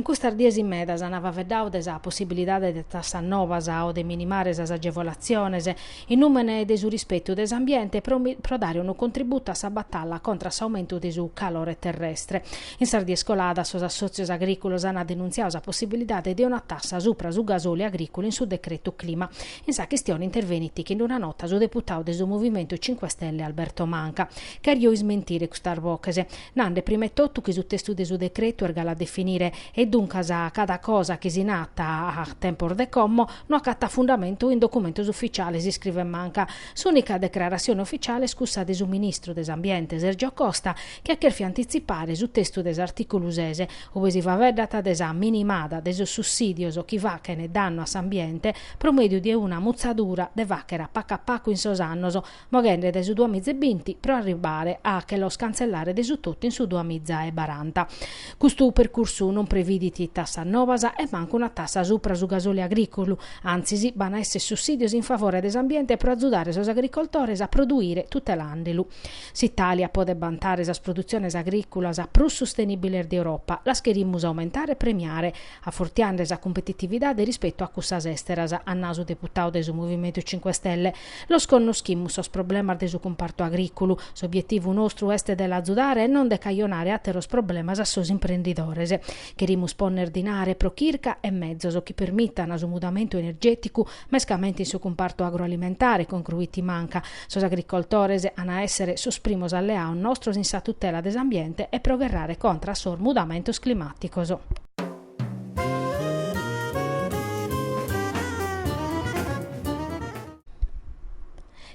In custas dies medas an faeddadu de possibilidade de tassas novas o de minimare sas agevolatziones in nùmene de su rispetu de s'ambiente pro dare unu contributu a sa batalla contra a s'aumentu de su calore terrestre. In sas dies coladas sos assòtzios agrìculos ant denuntziadu sa possibilidade de una tassa supra su gasoli agrìculu in su decretu clima. In sa chistione intervenit chin una nota su deputadu de su Movimentu Cinque Stelle Alberto Manca. Cherio ismentire custas oches. Nande prima 'e totu chi su testu de su decretu est galu a definire e duncas cada cosa chi si narat a tempos de como no acatat fundamentu in documentos ufficiales, iscrivet Manca. S'ùnica decrarassione ufficiale est cussa de su ministru de s'Ambiente, Sergio Costa, chi at chèrfiu antitzipare su testu de s'artìculu ses, uve si faeddat de sa minimada de sos sussìdios chi fachent dannu a s'ambiente pro mèdiu de una mutzadura de fàcher a pacu a pacu in sos annos, moghende dae su duamiza e binti pro arribare a che los cantzellare de su totu in su duamiza e baranta. Custu percursu non previdit tassas nobas e mancu una tassa supra su gasoli agrìculu, antzis b'an a èssere sussìdios in favore de s'ambiente pro azudare sos agricoltores a produire tutelande lu. S'Itàlia podet bantare sas produtziones agrìculas prus sustenìbiles de Europa, las cherimus aumentare e premiare, afortiande sa competitividade rispetu a cussas èsteras, at nau su deputadu de su Movimentu Cinque Stelle, Los connoschimus sos problemas de su cumpartu agrìculu, s'obietivu nostru est de l'azudare e non de cajonare àteros problemas a sos imprendidores. Cherimus pònner dinare pro chirca e metzos chi permitana su mudamentu energèticu mescamente in su cumpartu agroalimentare, concruit Manca. Sos agricoltores an a èssere sos primos alleados nostros in sa tutela de s'ambiente e pro gherrare contra a sos mudamentos climàticos.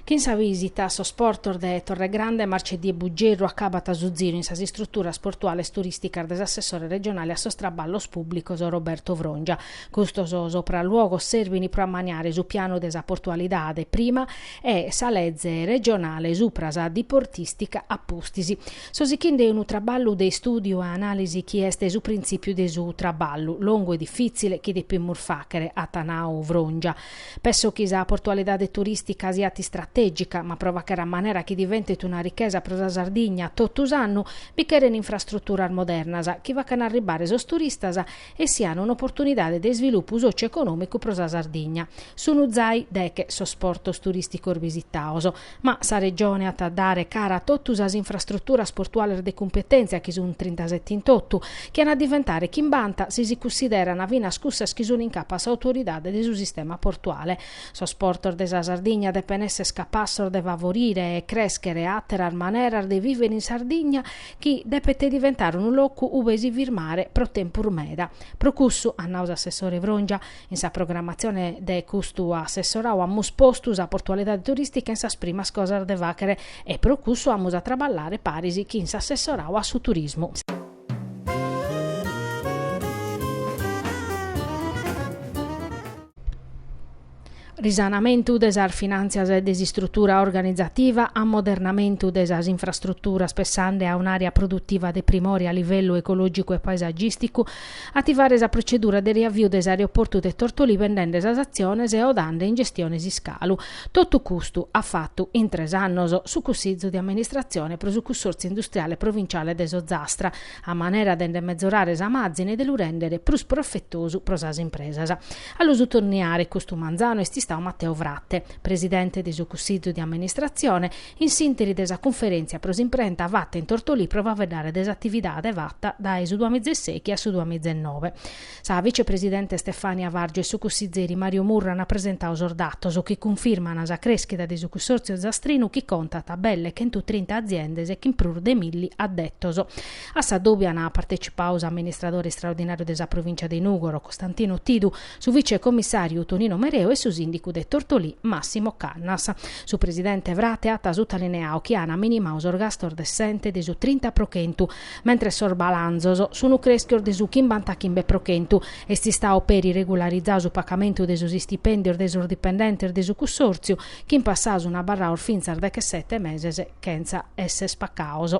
Chin sa visita a sos portos de Torregrande, Marceddì e Buggerru acabat su ziru in sas istruturas portuales turisticas de s'assessore regionale a sos traballos publicos Roberto Frongia. Custos sopraluogos servin pro ammaniare su pianu de sa portualidade prima e sa leze regionale supra sa diportistica a pustis. So sichinde unu traballu de istùdiu e anàlisi chi est su printzìpiu de su traballu, longu e difìtzile, chi depimus fàchere, at nau Frongia. Penso chi sa portualidade turìstica siat istratègica, ma pro fàchere a manera chi diventet una richesa pro sa Sardigna totu s'annu bi cheren infrastruturas modernas chi facan arribare sos turistas e sian un'oportunidade de isvilupu sòcio-econòmicu pro sa Sardigna. Sun zai deche sos portos turìsticos bisitaos, ma sa Regione at a dare cara a totu sas infrastruturas portuales de cumpetèntzia, chi sun trintaseti in totu, chi an a diventare chimbanta si si cussideran finas cussas chi sun in capu a s'autoridade de su sistema portuale. Sos portos de sa Sardigna depen èssere capassos de favorire e crèschere àteras maneras de vìvere in Sardigna, chi depet diventare unu locu ube si firmare pro tempus meda. Pro cussu, at nau s'assessore Frongia, in sa programatzione de custu assessorau amus postu sa portualidade turìstica in sas primas cosas de fàchere e pro cussu amus a traballare paris chin s'assessorau a su turismu. risanamentu de sas finàntzias e de s'istrutura organizativa, ammodernamentu de sas infrastruturas pessande a un'àrea produtiva de primore a livellu ecològicu e paesagìsticu, ativare sa protzedura de riaviu de s'aeroportu de Tortolì bendende sas atziones e o dande in gestione s'iscalu. Totu custu at fatu, in tres annos, su Cussìgiu de Amministratzione pro su Cussòrtziu Industriale Provinciale de s'Ozastra, a manera de nde mezorare sa màzine e de lu rèndere prus profetosu pro sas impresas. A lu sutaliniare custu manzanu est istau Matteo Frate, presidente de su Cussìgiu de amministratzione, in s'ìnteri de sa cunferèntzia pro s'imprenta fata in Tortolì pro faeddare de s'atividade fata dae su duamizesechi a su duamizennove. Sa vicepresidente Stefania Vargiu e su cussizeri Mario Murru ant presentau sos datos chi cunfirmana sa crèschida de su cussòrtziu ozastrinu chi contat belle chentu trinta aziendes chin prus de milli addetos. A sa dòbia ant partecipau s'amministradore istraordinàriu de sa provìncia de Nùgoro, Costantino Tidu, su vicecomissàriu Tonino Mereu e su sìndicu de Tortolì, Massimo Cannas. Su presidente Frate at sutalineau chi ant minimau sos gastos de s'ente de su trinta pro chentu, mentres sos balanzos sun creschios de su chimbantachimbe pro chentu, est istau peri regularizadu su pacamentu de sos istipèndios de sos dipendentes de su cussòrtziu, chi in passau sun abarraos fintzas dechesete meses chentza èssere pacaos.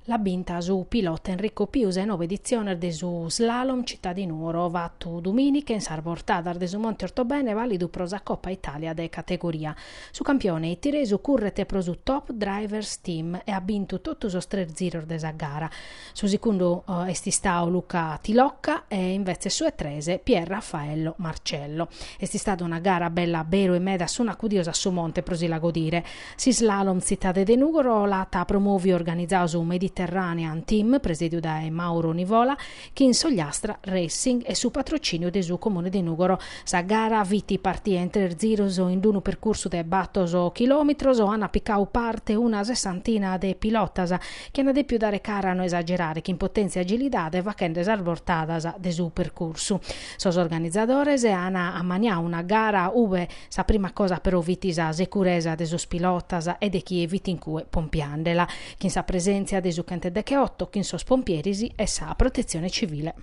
L'at binta su pilota Enrico Piu sa 'e nobe editziones de su slalom Città di Nuoro fatu dumìnica in sas bortadas de su Monte Ortobene vàlidu pro sa Copa Itàlia de categoria. Su campione itiresu curret pro su Top Drivers Team e at bintu totu sos tres ziros de sa gara. Su segundu est istau Luca Tilocca e invetzes su 'e tres Pier Raffaello Marcello. Est istada una gara bella a beru e meda sun acudios a su monte pro si la godire. S'islalom Tzitade de Nùgoro l'at promòviu e organizau su Mediterranean Team, presèdiu dae Mauro Nivola, chin s'Ogliastra Racing e su patrocìniu de su Comune de Nùgoro. Sa gara fit partìa in tres ziros in unu percursu de batos chilòmetros. Ana picau parte una sessantina de pilotas, chi ana dèpiu dare cara a no esagerare chin potèntzia e agilidade fachende sas bortadas de su percursu. Sos organizadores ana ammaniau una gara ube Sa prima cosa però fit sa securesa de sos pilotas e de chie fit in cue pompiandela, chin sa presèntzia de su chentedecheoto, chin sos pompieris e sa Protetzione Civile.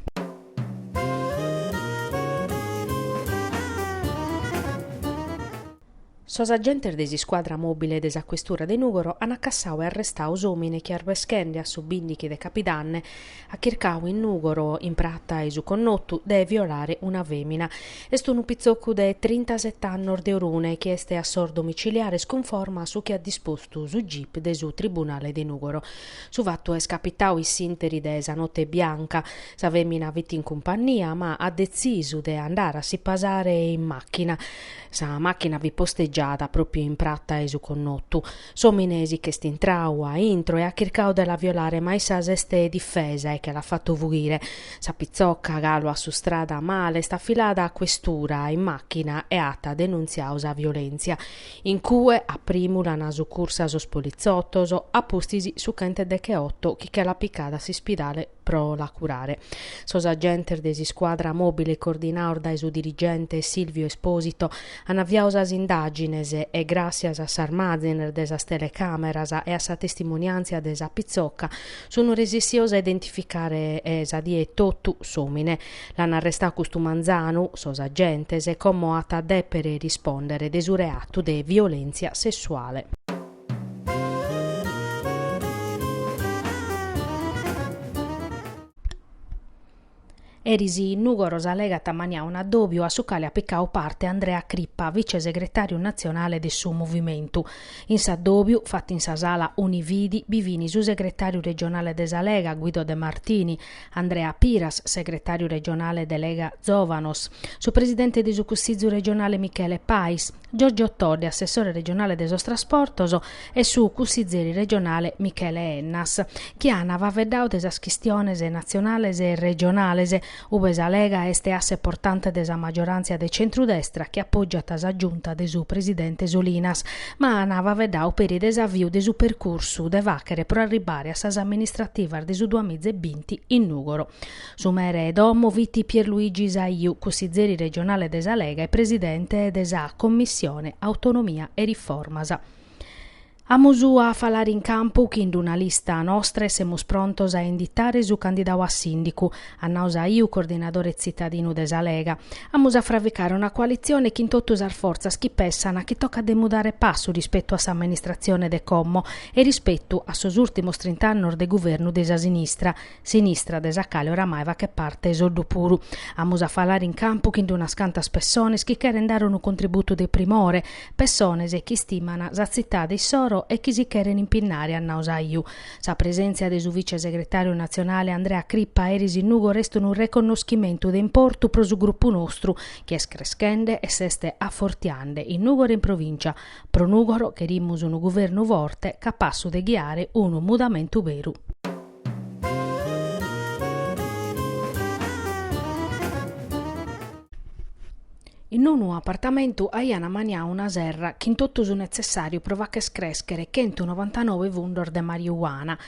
Sos agentes de s'iscuadra mòbile de sa Questura de Nùgoro ant acassau e arrestau s'òmine chi arbeschende a su bìndichi de Capidanne at chircau in Nùgoro, in prata 'e su connotu, de violare una fèmina. Est unu pitzocu de trintaset'annos de Orune chi est a sos domiciliares cunforma a su chi at dispostu su gip de su tribunale de Nùgoro. Su fatu est capitau in s'ìnteri de sa note bianca. Sa fèmina fit in cumpannia ma at detzisu de andare a si pasare in màchina. Sa màchina fit postegiada pròpiu in prata 'e su connotu. S'òmine si ch'est intrau a intro e at chircau de la violare ma issa s'est difesa e che l'at fatu fughire. Sa pitzoca, galu assustrada male, est afilada a questura in màchina e at denuntziau sa violèntzia. In cue a primu l'ant sucursa sos politzotos, a pustis su chentedecheoto chi che l'at picada a s'ispidale. pro la curare. Sos agentes de s'iscuadra mòbile coordinaos dae su dirigente Silvio Esposito an aviau sas indàgines e gràssias a sas màzines de sas telecàmeras e a sa testimoniàntzia de sa pitzoca sun resessios a identificare sa die etotu s'òmine. L'an arrestau custu manzanu sos agentes como at a dèpere rispòndere de su reatu de violèntzia sessuale. Eris in Nùgoro sa Lega at ammaniau un'addòbiu a su cale at picau parte Andrea Crippa, vice-segretàriu natzionale de su Movimentu. In s'addòbiu, fatu in sa sala Unividi, bi fin su segretàriu regionale de sa Lega, Guido De Martini, Andrea Piras, segretàriu regionale de Lega Zòvanos, su presidente de su Cussizu regionale Michele Pais, Giorgio Todde, assessore regionale de sos trasportos, e su cussizeri regionale Michele Ennas, chi an faveddau de sas chistiones natzionales e regionales, ube sa Lega est asse portante de sa maggiorantzia de centru-destra chi apoggiat sa giunta de su presidente Solinas, ma an faveddau peri de s'aviu de su percursu de fàghere pro arribbare a sas amministrativas de su duamiza e binti in Nùgoro. Su mere 'e domo fit Pierluigi Saiu, cussizeri regionale de sa Lega e presidente de sa Commissione Autonomia e Riformas. Amus a falare in campu chin d'una lista nostra e semus prontos a inditare su candidau a sìndicu, at nau Saiu, coordinadore tzitadinu de sa Lega. Amus a fraficare una coalitzione chin totu sas fortzas chi pessan chi tocat de mudare passu rispetu a s'amministratzione de como e rispetu a sos ùrtimos trint'annos de guvernu de sa sinistra, sinistra de sa cale oramai fachet parte Soddu puru. Amus a falare in campu chin d'unas cantas pessones chi cheren dare unu contributu de primore, pessones chi istimana sa tzitade issoro e chi si cheren impinnare at nau Saiu. Sa presèntzia de su vicesegretàriu natzionale Andrea Crippa eris in Nùgoro est unu reconnoschimentu de importu pro su grupu nostru chi est creschende e s'est afortiande in Nùgoro e in provìncia. Pro Nùgoro cherimus unu guvernu forte capassu de ghiare unu mudamentu beru. In unu apartamentu aian amaniau una serra chin totu su netzessàriu pro facher crèschere chentu novantanove fundos de mariuana.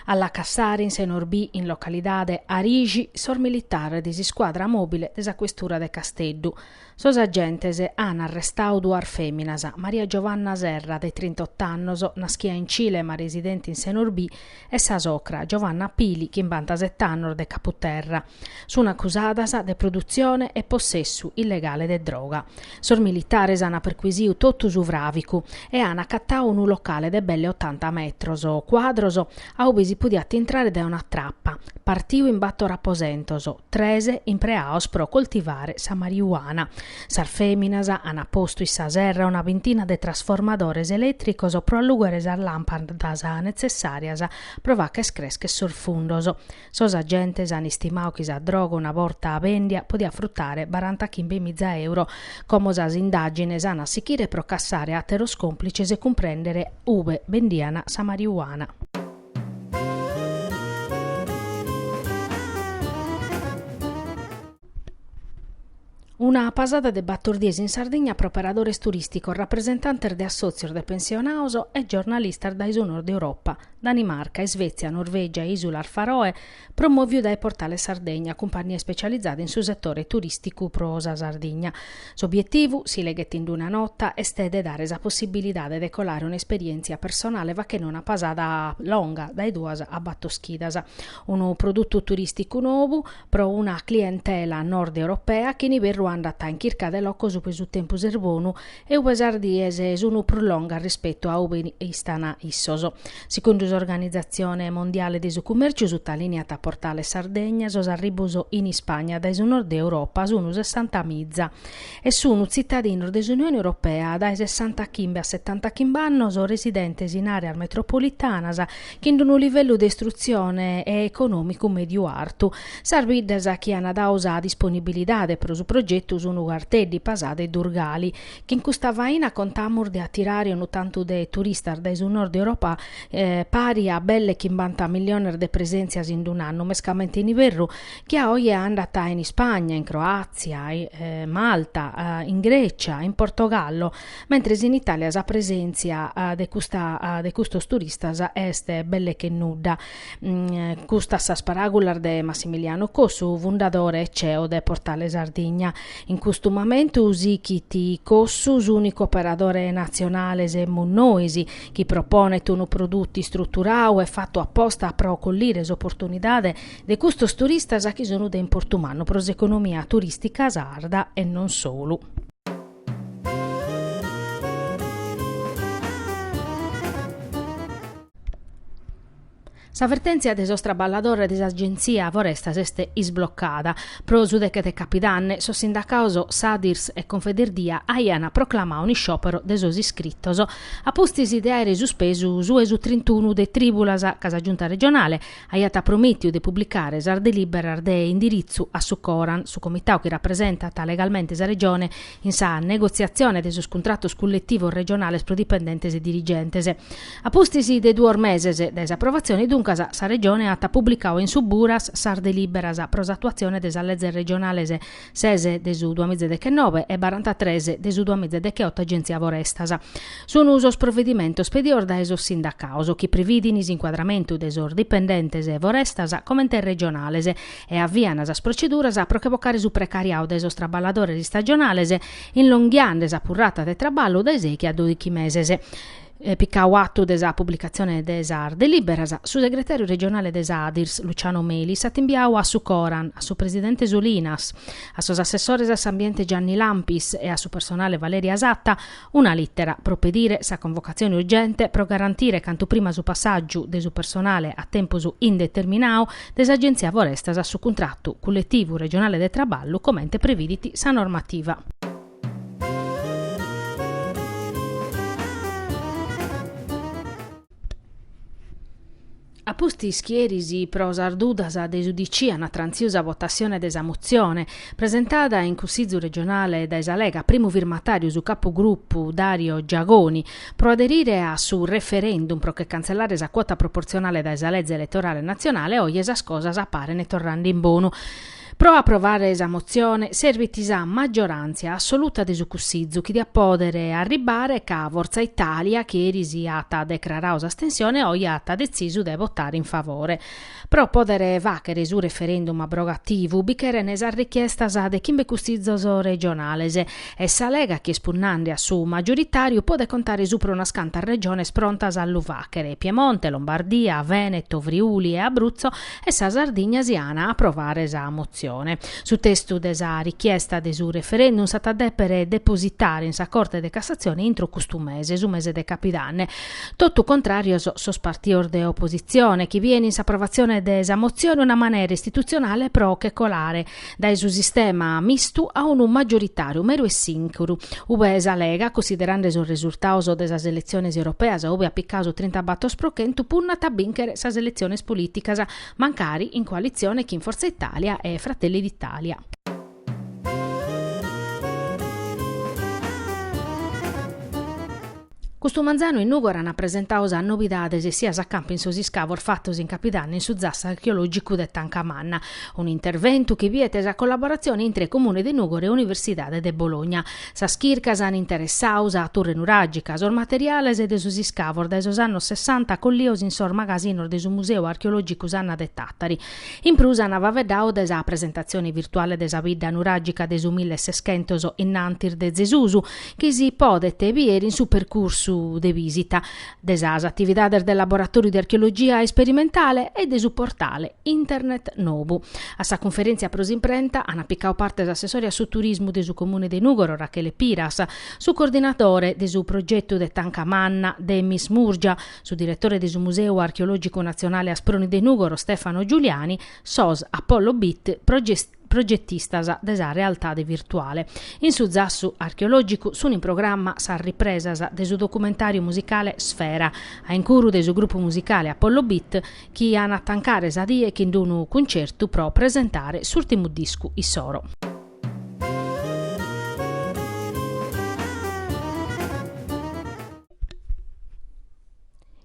A la cassare in Senorbì, in localidade Arixi, sos militares de s'iscuadra mòbile de sa questura de Casteddu, Sos agentes an arrestau duas fèminas, Maria Giovanna Serra, de trintotto annos, naschia in Cile ma residente in Senorbì, e sa socra, Giovanna Pili, chimbantasette annos, de Caputerra. Sun acusadas de produtzione e possessu illegale de droga. Sos militares an perquisiu totu su fràvicu e an acatau unu locale de belle otanta metros cuadros a ube si podiat intrare dae una trapa, partiu in bator aposentos, tres impreaos pro coltivare sa marijuana. Sas fèminas ant postu in sa serra una bintina de trasformadores elètricos pro allùghere sas làmpadas netzessàrias pro facher crèschere sos fundos. Sos agentes ant istimau chi sa droga una borta bèndia podiat frutare barantachimbe mìza euro. Como sas indàgines ant a sichire pro cassare àteros còmplices e cumprèndere ube bendian sa marijuana. Una pasada de bator dies in Sardigna pro operadores turìsticos, rapresentantes de assòtzios de pensionaos e giornalistas dae su Nord Europa, Danimarca, Isvètzia, Norvègia e Ìsulas Faroe, promòviu dae Portale Sardegna, cumpànnia ispecializada in su setore turìsticu pro sa Sardigna. S'obietivu, si leghet in una nota, est de dare sa possibilidade de colare un'esperièntzia personale fachende una pasada longa dae duas a bator chidas, unu produtu turìsticu nobu pro una clientela nord-europea chi in iberru andat in chirca de locos ube su tempus est bonu e ube sas dies sun prus longas rispetu a ube istan issos. Segundu s'Organizatzione Mondiale de su Cummèrciu sutaliniat Portale Sardegna sos arribbos in Ispagna dae su Nord Europa sun sessanta miza e sun tzitadinos de s'Unione Europea dae sessantachimbe a setantachimbe annos residentes in àreas metropolitanas chin d'unu livellu de istrutzione e econòmicu mèdiu-artu. Sas biddas chi ant dau sa disponibilidade pro su progetu sunt Carteddi, Pasada e Durgali. Chin custa faina contamus de atirare unu tantu de turistas dae su Nord Europa pari a belle chimbanta milliones de presèntzias in d'un'annu, mescamente in iberru, chi a oe andant in Ispagna, in Croàtzia, Malta, in Grècia, in Portogallo, mentres in Itàlia sa presèntzia de custa de custos turistas est belle che nudda. Custas sas paràgulas de Massimiliano Cossu, fundadore e ceo de Portale Sardigna. In custu momentu sichit Cossu s'ùnicu operadore natzionale semus nois, chi proponet unu produtu istruturau e fatu a posta pro collire s'oportunidade de custos turistas chi sun de importu mannu pro s'economia turìstica sarda e non solu. Sa vertèntzia de sos traballadores de s'Agentzia Forestas est isblocada. Pro su deche de Capidanne sos sindacaos Sadirs e Confederdia aiant proclamau un'isciòpero de sos iscritos a pustis de àere suspesu su 'e su trintunu de trìbulas ca sa Giunta regionale aiat promètiu de publicare sas delìberas de indiritzu a su Coran, su comitau chi rapresentat legalmente sa Regione in sa negotziatzione de sos cuntratos culletivos regionales pro dipendentes e dirigentes. A pustis de duos meses dae s'aprovatzione, duncas, sa Regione at publicau in su Buras sas delìberas pro s'atuatzione de sas leges regionales ses de su duamìgia e dechenobe e barantatres de su duamìgia e dechioto Agèntzia Forestas. Sunt sos provedimentos pedios dae sos sindacaos, chi previdin s'incuadramentu de sos dipendentes 'e Forestas comente regionales e avian sas proceduras pro che vocare su precariau dae sos traballadores istagionales, inlonghiande sa purrata de traballu dae sei che a dòichi meses. Picau atu de sa publicatzione de sas delìberas, su segretàriu regionale de Sadirs, Luciano Melis, at imbiau a su Coran, a su presidente Solinas, a sos assessores a s'ambiente Gianni Lampis e a su personale Valeria Satta una lìtera pro pedire sa convocatzione urgente pro garantire cantu prima su passàgiu de su personale a tempus indeterminau de s'Agenzia Forestas a su cuntratu culletivu regionale de traballu comente previdit sa normativa. Apustis chi eris pro sas dudas de s'UDC an trànsiu sa votassione de sa motzione, presentada in Cussizu Regionale dae sa Lega, primu firmatàriu su capugrupu Dario Giagoni, pro aderire a su referendum pro che cantzellare sa cuota proporzionale dae sa Leze Eletorale Natzionale, oje sas cosas parene torrande in bonu. Pro aprovare sa motzione servit sa maggioràntzia assoluta de su Cussizu chi diat pòdere arribbare ca Fortza Itàlia, chi eris at decraradu s'astensione, oje at detzisu de votare in favore. Pro pòdere fàghere su referendum abrogativu bi cheren sas richiestas de chimbe Cussizos regionales e sa Lega chi est punnande a su maggioritàriu podet contare supra unas cantas Regiones prontas a lu fàghere, Piemonte, Lombardia, Vèneto, Friuli e Abruzzo e sa Sardigna si at a aprovare sa motzione. Su testu de sa richiesta de su referendum s'at a dèpere depositare in sa Corte de Cassatzione intro custu mese, su mese de capidanne. Totu contràrios sos partidos de opositzione, chi biein in s'aprovatzione de sa motzione una manera istitutzionale pro che colare dae su sistema mistu a unu maggioritàriu meru e sìncuru, ube sa Lega, cussiderande sos resurtados de sas eletziones europeas ube at picadu su trintabatos pro chentu, punnat a bìnchere sas eletziones polìticas, mancari in coalitzione chin Forza Italia e Fratelli d'Italia. Custu manzanu in Nùgoro ant presentadu sas nobidades essias a campu in sos iscavos fatos in Capidanna in su zassu archeològicu de Tancamanna, un'interventu chi biet sa collaboratzione intre Comune de Nùgoro e Universidade de Bologna. Sas chircas an interessadu sa Turre Nuràgica, sos materiales de sos iscavos dae sos annos sessanta collidos in sos magasinos de su Museu archeològicu Sanna de Tàtari. In prus ant faeddadu de sa presentatzione virtuale de sa bidda nuràgica de su milleseschentos in antis de Zesusu, chi si podet bier in su percursu de bìsita, de sas atividades de laboratòriu de archeologia isperimentale e de su portale internet nobu. A sa cunferèntzia pro s'imprenta ant picadu parte s'assessore a su turismu de su Comune de Nùgoro Rachele Piras, su coordinadore de su progetu de Tanca Manna Demis Murgia, su diretore de su Museu Archeològicu Natzionale Asproni de Nùgoro Stefano Giuliani, sos Apollo Beat progetistas de sa realtade virtuale. In su zassu archeològicu sunt in programma sas ripresas de su documentàriu musicale Sfera, a incuru de su grupu musicale Apollo Beat, chi an a tancare sa die chin d'unu cuncertu pro presentare s'ùrtimu discu issoro.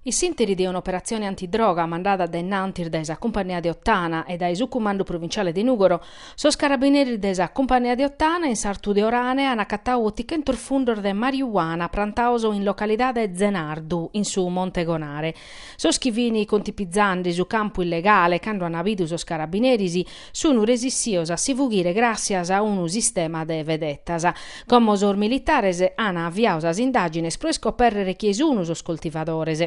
In s'interi de un'operatzione antidroga mandada dae innantis dae sa Cumpannìa de Ottana e dae su Cumandu Provinciale de Nùgoro, sos carabineris de sa Cumpannìa de Ottana in s'artu de Orane an acatadu otichentos fundos de mariuana prantados in localidade Zenardu, in su Monte Gonare. Sos chi fin contipizande su campu illegale cando an abidu sos carabineris, sunu resissios a si fughire gràssias a unu sistema de vedetas. Como sos militares an aviadu sas indàgines pro iscopèrrere chie sunu sos coltivadores.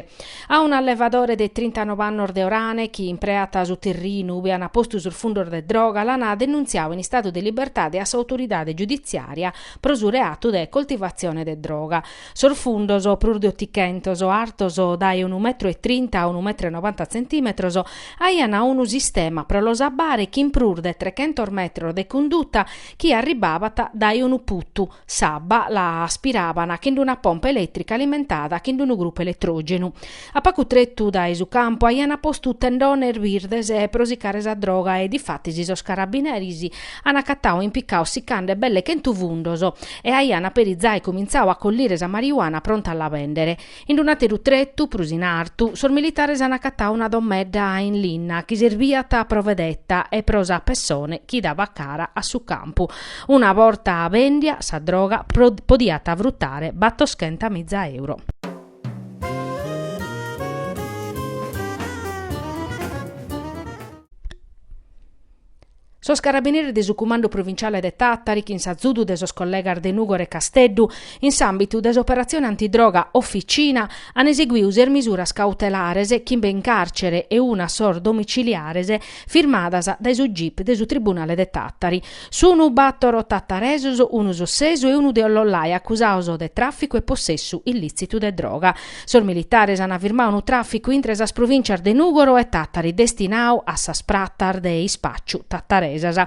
A un allevadore de trintanobe annos de Orane chi impreat su terrinu ube an postu sos fundos de droga l'an denuntziadu in istadu de libertade a s'autoridade giuditziària pro su reatu de coltivatzione de droga. Sos fundos, prus de otichentos, artos dae unu metru e trinta a unu metru e nobanta tzentìmetros, aian unu sistema pro los abbare chin prus de trechentos metros de cunduta chi arribbabat dae unu putu, s'abba la aspiraban chin una pompa elètrica alimentada chin unu grupu eletrògenu. A pagu tretu dae su campu aiant postu tendones birdes pro sicare sa droga e difatis sos carabineris ant acatadu impicados sicande belle chentu fundos e aiant peri zai comintzadu a collire sa marijuana pronta a la bèndere. In unu àteru tretu, prus in artu, sos militares ant acatadu una domedda in linna chi serbiat pro vedeta e pro sa pessone chi dabat cara a su campu. Una borta bèndia sa droga podiat frutare batoschenta miza euro. Sos carabineris de su Cumandu Provinciale de Tàtari chin s'azudu de sos collegas de Nùgoro e Casteddu, in s'àmbitu de s'operatzione antidroga Officina, an eseguidu ses misuras cautelares chimbe in càrcere e una a sos domiciliares firmadas dae su gip de su Tribunale de Tàtari. Sunu bàtoro tataresos, unu sossesu e unu de Ollollai, acusados de tràficu e possessu illìtzitu de droga. Sos militares an firmadu unu tràficu intre sas provìntzias de Nùgoro e Tàtari destinadu a sas pratas de ispàciu tataresas.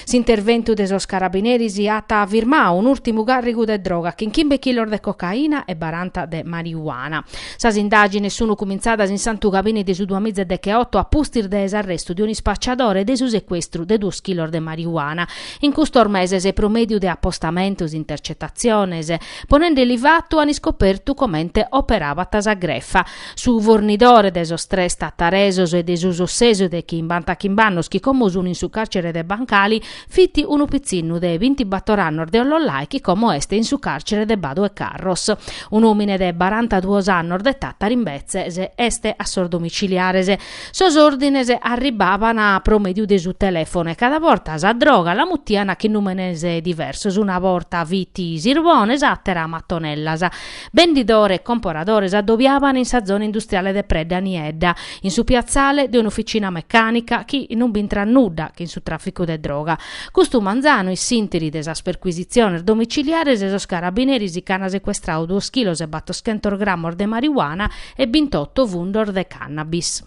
S'interventu de sos carabineris at firmadu un'ùrtimu càrrigu de droga, chin chimbe chilos de cocaina e baranta de mariuana. Sas indàgines sunu cumintzadas in Santu Gabini de su duamiza e decheoto a pustis de s'arrestu de un'ispacciadore e de su secuestru de duos chilos de marijuana in custos meses pro mèdiu de apostamentos, intercetatziones, ponende li fatu an iscopertu comente operabat sa grefa. Su fornidore de sos tres tataresos e de su sossesu de chimbantachimb'annos chi como sunu in su càrcere de Bancali Fit unu pitzinnu de bintibator annos de Ollollai chi como est in su càrcere de Badu 'e Carros. Un'òmine de barantaduos annos de Tàtari imbetzes est a sos domiciliares. Sos òrdines arribbaban pro mèdiu de su telèfonu e cada borta sa droga la mutian chin nùmenes diversos, una borta fit sirbones, s'àtera matonellas. Bendidore e comporadore s'addobiaban in sa zona industriale de Predda Niedda, in su piatzale de un'ufficina mecànica chi non b'intrat nudda che in su tràficu de droga. Custu manzanu in s'ìntiri de sas percuisitziones domiciliares de sos carabineris nche an secuestradu duos chilos e battoschentos grammos de marijuana e bintoto fundos de cannabis.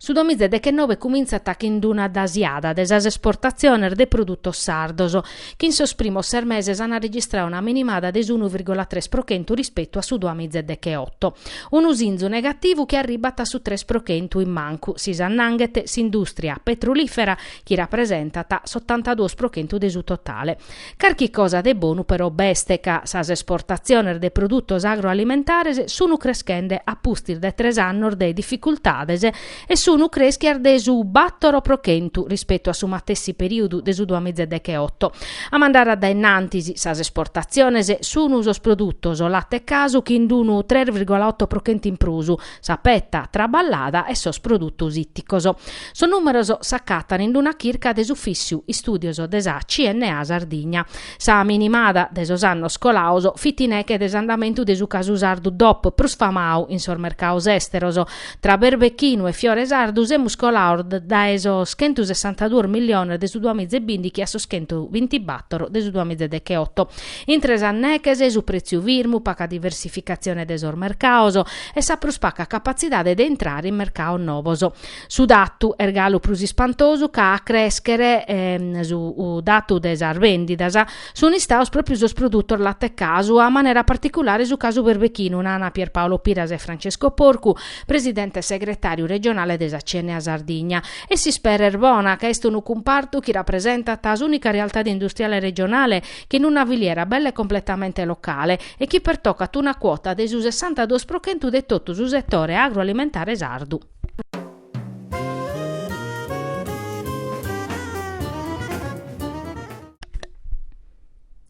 Su duamizedechenove cumintzat chin d'una dasiada de sas esportatziones de produtos sardos, chi in sos primos ses meses an registradu una minimada de s'unu virgola tres pro chentu rispetu a su duamizedecheoto. Unu sinzu negativu chi arribbat a su tres pro chentu in mancu, si s'annanghet s'indùstria petrulìfera, chi rapresentat s'otantaduos pro chentu de su totale. Carchi cosa de bonu però b'est ca sas esportatziones de produtos agroalimentares sunu creschende a pustis de tres annos de dificultades e sunu creschias de su bàtoro pro chentu rispetu a su matessi perìodu de su duamizedecheoto. A mandare a dae innantis, sas esportatziones sunu sos produtos, late e casu, chin d'unu tres virgola oto pro chentu in prus, sa peta traballada e sos produtos ìticos. Sos nùmeros s'acatan in una chirca de s'Ufìssiu Istùdios de sa CNA Sardigna. Sa minimada de sos annos colados fit in neche de s'andamentu de su casu sardu dop prus famadu in sos mercados èsteros. Tra berbechinu e fiore sardu semus colados dae sos chentosessantaduos milliones de su duamiza e bìndighi a sos chentobintibàtoro de su duamiza e decheoto. Intre sas neches, su prètziu firmu, paga diversificatzione de sos mercados e sa prus paga capatzidade de intrare in mercados nobos. Su datu, est galu prus ispantosu ca a crèschere su datu de sas vèndidas, sunt istados pròpiu sos produtos latecasu, a manera particulare su casu berbechinu, nana Pierpaolo Piras e Francesco Porcu, presidente e segretàriu regionale de sa CNA Sardigna. E s'ispera est bona ca est unu cumpartu chi rapresentat s'ùnica realtade industriale regionale chin una filiera bella e completamente locale e chi pertocat una cuota de su sessantaduos pro chentu de totu su setore agroalimentare sardu.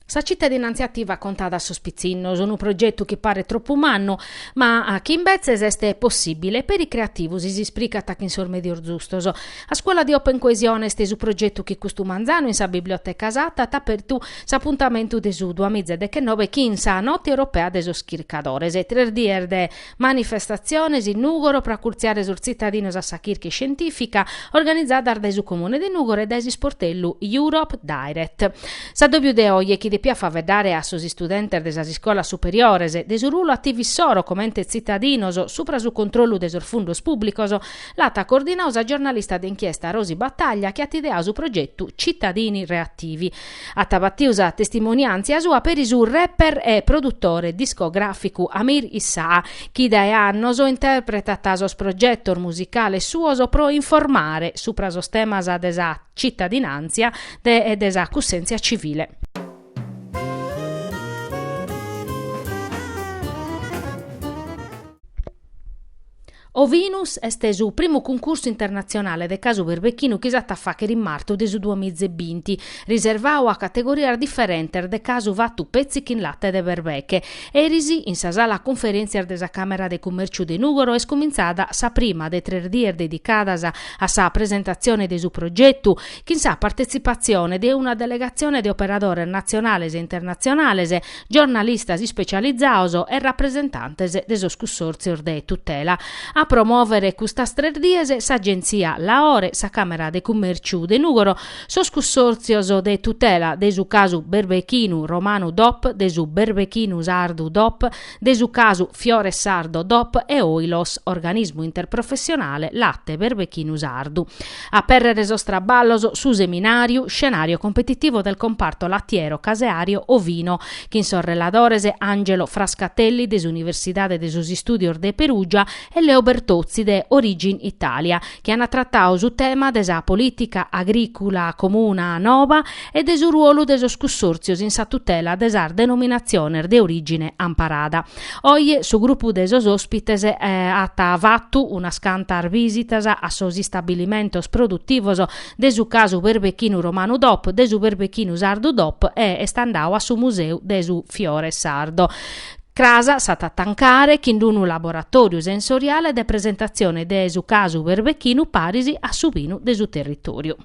Sa citadinantzia ativa contada a sos pitzinnos, unu progetu chi paret tropu mannu, ma chi imbetzes est possibile e peri creativu si s'ispricat chin sos medios zustos. A Scuola di Open Coesione est su progetu chi custu manzanu in sa Biblioteca Satta at apertu s'apuntamentu de su duamiza e dechennobe chin sa Note Europea de sos Chircadores. Tres dies de manifestatziones in Nùgoro pro acurtziare sos tzitadinos a sa chirca iscientìfica, organizadas dae su Comune de Nùgoro e dae s'isportellu Europe Direct. S'addòbiu de oje chi depiat faeddare a sos istudentes de sas iscolas superiores, de su rulu ativu issoro comente tzitadinos subra su controllu de sos fundos pùblicos, L'at cordinau sa giornalista de inchiesta Rosi Battaglia chi at ideau su progetu Cittadini Reattivi. At batiu sa testimoniàntzia sua peri su rapper e produtore discogràficu Amir Issaa chi dae annos interpretat sos progetos musicales suos pro informare supra sos temas de sa cittadinàntzia e de sa cussèntzia civile. Ovinus est su primu cuncursu internatzionale de casu perbechinu chi s'at a fàghere in martu de su duas miza e binti, riservau a categorias diferentes de casu fatu petzi chin late de perbeche. Eris, in sa sala cunferèntzias de sa Càmera de Cumèrciu de Nùgoro est cumintzada sa prima de tres dies dedicadas a sa presentatzione de su progetu, chin sa partetzipatzione de una delegatzione de operadores natzionales e internatzionales, giornalistas ispecializaos e rapresentantes de sos cussòrtzios de tutela. A promòvere custas tres dies s'Agentzia Laore, sa Càmera de Cummèrciu de Nùgoro, sos cussòrtzios de tutela de su casu berbechinu romanu dop, de su berbechinu sardu dop, De su casu Fiore Sardo dop e Oilos Organismu Interprofessionale Latte Berbechinu Sardu. A apèrrere sos traballos su seminàriu Scenario competitivo del comparto lattiero, caseario, ovino chin sos reladores Angelo Frascatelli de s'Universidade de sos Istùdios de Perùgia e Leo Bertozzi de Origin Italia chi an tratau su tema de sa polìtica agrìcula comuna nova e de su ruolu de sos cussòrtzios in sa tutela de sas denominatziones de orìgine amparada. Oje su grupu de sos òspites at fatu unas cantas bìsitas a sos istabilimentos produtivos de su casu Perbechinu Romanu Dop, de su Perbechinu Sardu Dop e est andau a su Museu de su Fiore Sardo. Cras s'at a tancare chin unu laboratòriu sensoriale de presentatzione de su casu Perbechinu paris a su pinu de su territòriu.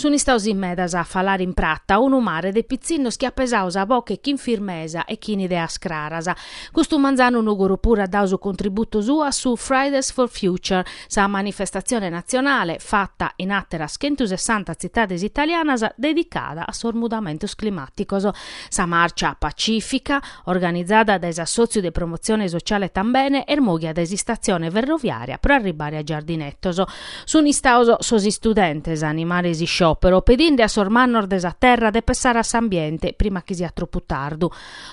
Sun istaos in medas a falare in prata unu mare de pitzinnos chi at pesau sa boche chin firmesa e chin ideas craras. Custu manzanu Nùgoro puru at dau su contributu suu a su Fridays for Future, sa manifestatzione natzionale, fata in àteras chentusessanta tzitades italianas, dedicada a sos mudamentos climàticos. Sa màrcia pacìfica, organizada dae s'assòtziu de promotzione sotziale Tambene est mòghia dae s'istatzione ferroviària pro arribare a Giardinetos. Sun istaos sos istudentes a animare s'isciòpero pedinde a sos mannos de sa terra de pessare a s'ambiente prima chi siat tropu tardu,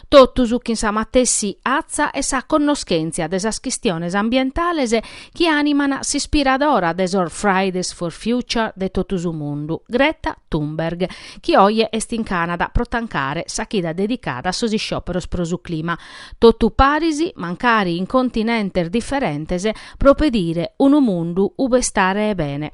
totus chin sa matessi atza e sa connoschèntzia de sas chistiones ambientales chi àniman s'ispiradora de sos Fridays for Future de totu su mundu, Greta Thunberg, chi oje est in Cànada pro tancare sa chida dedicada a sos isciòperos pro su clima, totu paris mancari in continentes diferentes, pro pedire unu mundu ube istare bene.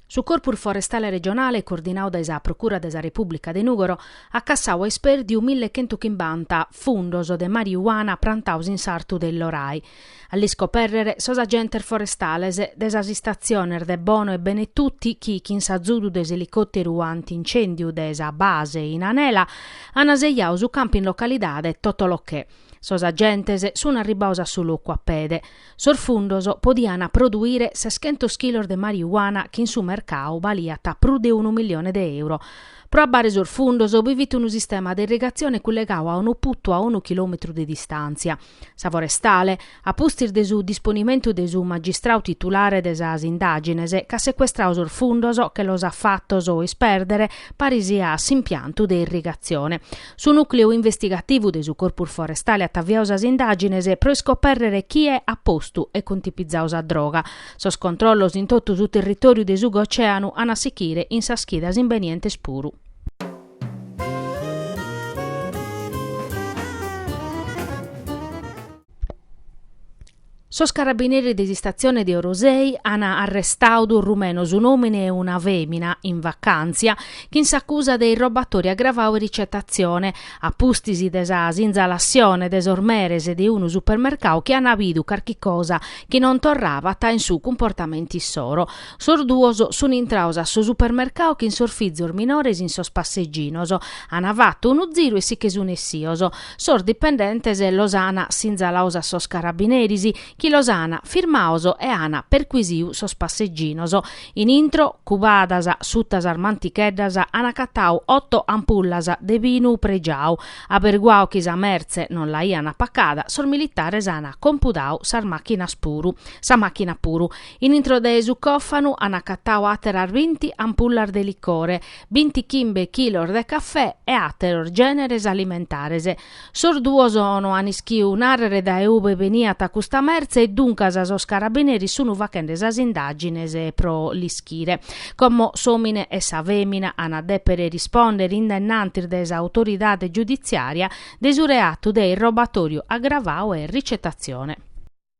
Su Corpus Forestale Regionale, coordinadu dae sa Procura de sa Repùblica de Nùgoro, at cassadu a ispèrdiu mille chentu chimbanta fundos de mariuana prantados in s'artu de Illorai. A l'iscopèrrere sos agentes forestales de sas istatziones de Bono e Benetutti chi, chin s'azudu de s'elicòteru anti-incèndiu de sa base in Anela, ant sejadu su campu in localidade Totolochè. Sos agentes sunt arribbados a su locu a pede. Sos fundos podiana produire seschentos chilos de marijuana chi in su mercau baliat prus de unu milione de euro. Pro abbare sos fundos bi fit unu sistema de irrigatzione cullegau a unu putu a unu chilòmetru de distàntzia. Sa forestale, a pustis de su disponimentu de su magistrau titulare de sas indàgines, ch'at secuestrau sos fundos e che los at fatos ispèrdere paris a s'impiantu de irrigatzione. Su nùcleu investigativu de su Corpus Forestale at aviadu sas indàgines pro iscopèrrere chie at postu e contipizadu sa droga. Sos controllos in totu su territòriu de su Gocèanu an a sichire in sas chidas imbenientes puru. Sos carabineris de s'istatzione de Orosei an arrestadu duos rumenos, un'òmine e una fèmina, in vacàntzia, chin s'acusa de irrobatori agravau e ricetatzione, a pustis de sa sinzalassione de sos meres de unu supermercau chi an bidu carchi cosa chi non torrabat in su cumportamentu issoro. Sos duos sun intrados a su supermercau chin sos fizos minores in sos passeginos, an fatu unu ziru e si che sun essios. Sos dipendentes los an sinzalados a sos carabineris, chi los an firmados e an perquisidu sos passeginos. In intro, cubadas suta sas manticheddas, an acatadu oto ampullas de binu pregiadu. Aberguadu chi sa mertze non l'aian pacada, sos militares an compudadu sa màchina puru. In intro de su còfanu an acatadu àteras binti ampullas de licore. binti chimbe chilos de cafè e àteros gèneres alimentares. Sos duos no an ischiu nàrrere dae ube beniat custa mertze e duncas sos carabineris sun faghende sas indàgines pro l'ischire. Como s'òmine e sa fèmina an a dèpere rispòndere in dennantis de sa autoridade giuditziària de su reatu de irrobatoriu agravadu e ricetatzione.